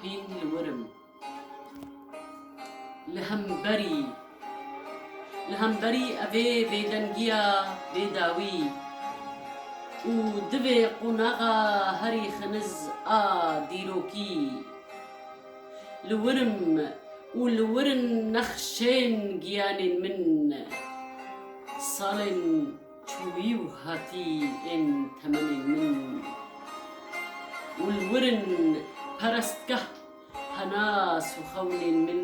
Hîn li wir im. Li hemberî, li hemberî evê bêdengiya bêdawî û divê qonaxa herî xeniz a dîrokî, li wir im û li wir in nexşên giyanên min, salên. Çûyî û hatî ên temenên min. Û li wir in perestgeh penas û xewnên min.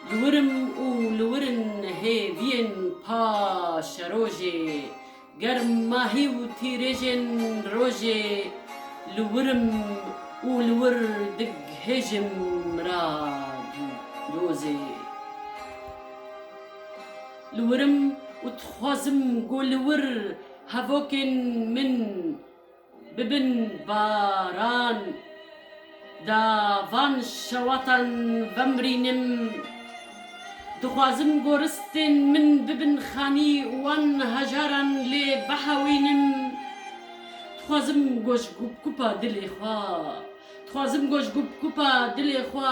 Li wir im û li wir in hêviyên pa şerojê. Germ mahî û tîrêjên rojê. Li wir im û li wir dighêjim mira dozê. Li wir im û dixwazim ku li wir hevokên min bibin baran. Da van şewatan vemrînim. Dixwazim ku ristên min bibin xanî û wan hejaran lê bihewînim. Dixwazim ku ji gupgupa dilê xwe.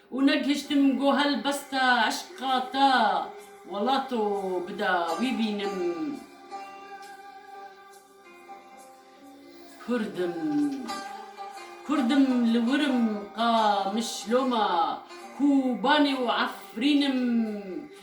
Û negihiştim ku helbesta eşqa te welato bida wî bînim Kurdim Kurdim li wir im ka mişloma Kûbanê û Efrîn im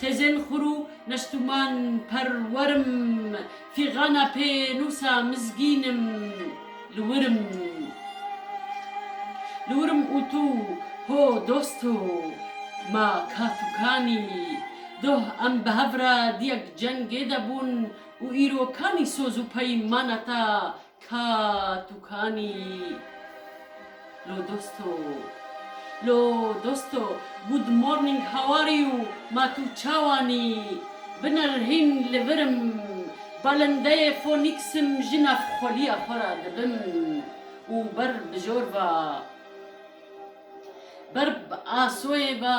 Xêzên xur û nestûman perwer im. Fîxana pênûsa mizgîn im. Li wir im. Li wir im û tu ho dost ho, ma kaf û kanî. Doh em bi hev re diyek cengê de bûn û îro kanî soz û peymana te Ka tu kanî yî lo dosto. Lo dosto, good morning how are you ma tu çawan î? Binir hîn li vir im, balindeyê Phoenix im ji nav xweliya xwe re dibim û ber bijor ve, ber bi asoyê ve,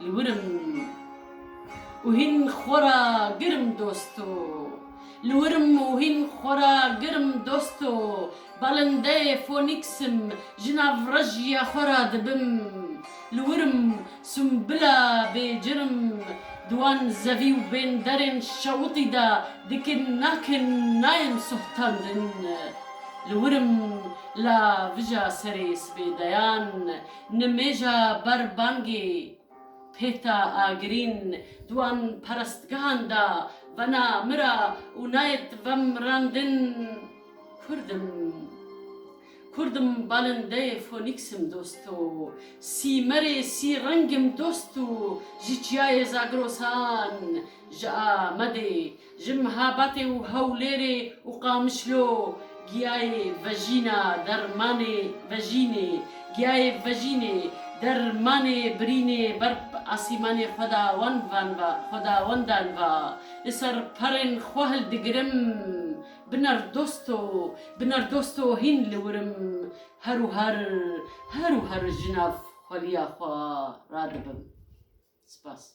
Li wirim û hîn xwe ra girim dosto Li wirim û hîn xwe ra girim dosto Balindeyê Fonîks im ji nav rejiya xwe ra dibim Li wirim Sumbila bêcir im di wan zevî û bênderên şewitî de dikin nakin nayên sohtandin Li wirim la vija serê sibê deyan Nimêja ber bangê Pêta Agirîn di wan perestgehan de vena mira û nayet vemrandin Kurd im. Kurd im balindeyê Fonîks im dost o. Sîmerê sî reng im dost û ji çiyayê Zagrosan ji Amedê Ji Mihabatê û Hewlêrê û Qamişlo giyayê vejîna dermanê vejînê giyayê vejînê dermanê birînê ber asîmanê xwedawanvan va xwedawendan va Li ser perên xwe hildigirim bi nerdosto bi nerdosto hîn li wir im her û her her û her ji nav xweliya xwe radibim. Spas.